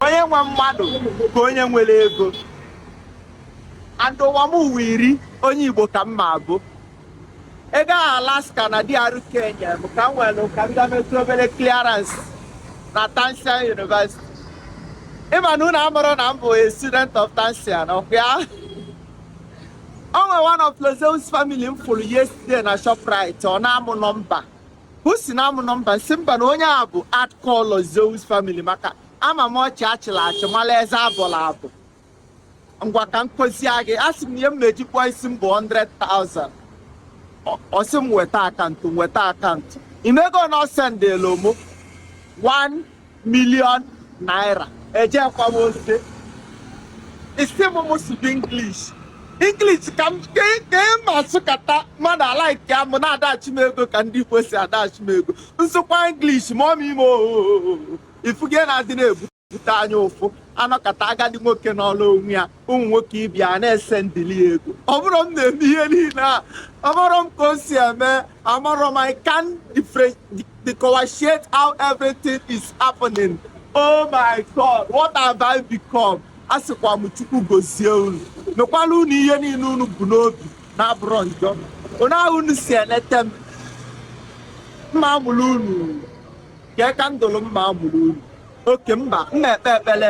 onye nwe mmadụ ka onye nwere ego and ụwa m ụwa iri onye igbo ka m ma abụ ego ahụ alaska na DR Kenya bụ ka m nwere ka m gametụ obere clearance na Tansian University ịma na unu amarọ na m bụ a student of Tansian ọkwa o nwere one of Lord Zeus family m fụrụ yesterday na Shoprite ọ naa mụ nọmba o si naa mụ nọmba m sị mba na onye a bụ hardcore Lord Zeus family maka ama m ọchị achịrị achị mala eze abụla abụ ngwa ka m kụzie gị a sị m na ihe m ma-eji kpụọ isi m bụ 100,000 Ọ- ọ sị m weta akaụntụ m weta akaụntụ ị mago na ọ sendịlụ mụ 1 million naira ejekwa m ote isi m m sụdị English English ka m ka ị ka ị ma asụkata mmadụ alaịkịa mụ na-adashị m ego ka ndị Igbo si adashị m ego m sụkwa English ma ọ ma ime ohohoho ị fụgo ihe na-adị na-ebute anya ụfụ anọkata agadi nwoke nọrọ onwe ya ụmụ nwoke ibe ya na-esendịlị ya ego ọ bụrọ m na-eme ihe niile a amarọ m ka o si eme amarọ m I can't differentiate how everything is happening oh my god what have I become a sịkwa m chukwu gozie unu mekwala unu ihe niile unu bu n'obi na-abụrọ njọ otu ahụ unu si eleta m m ma amụrụ unu ka kandụlụ m ma amụrụ unu ọkụ mbe m na-ekpe ekpere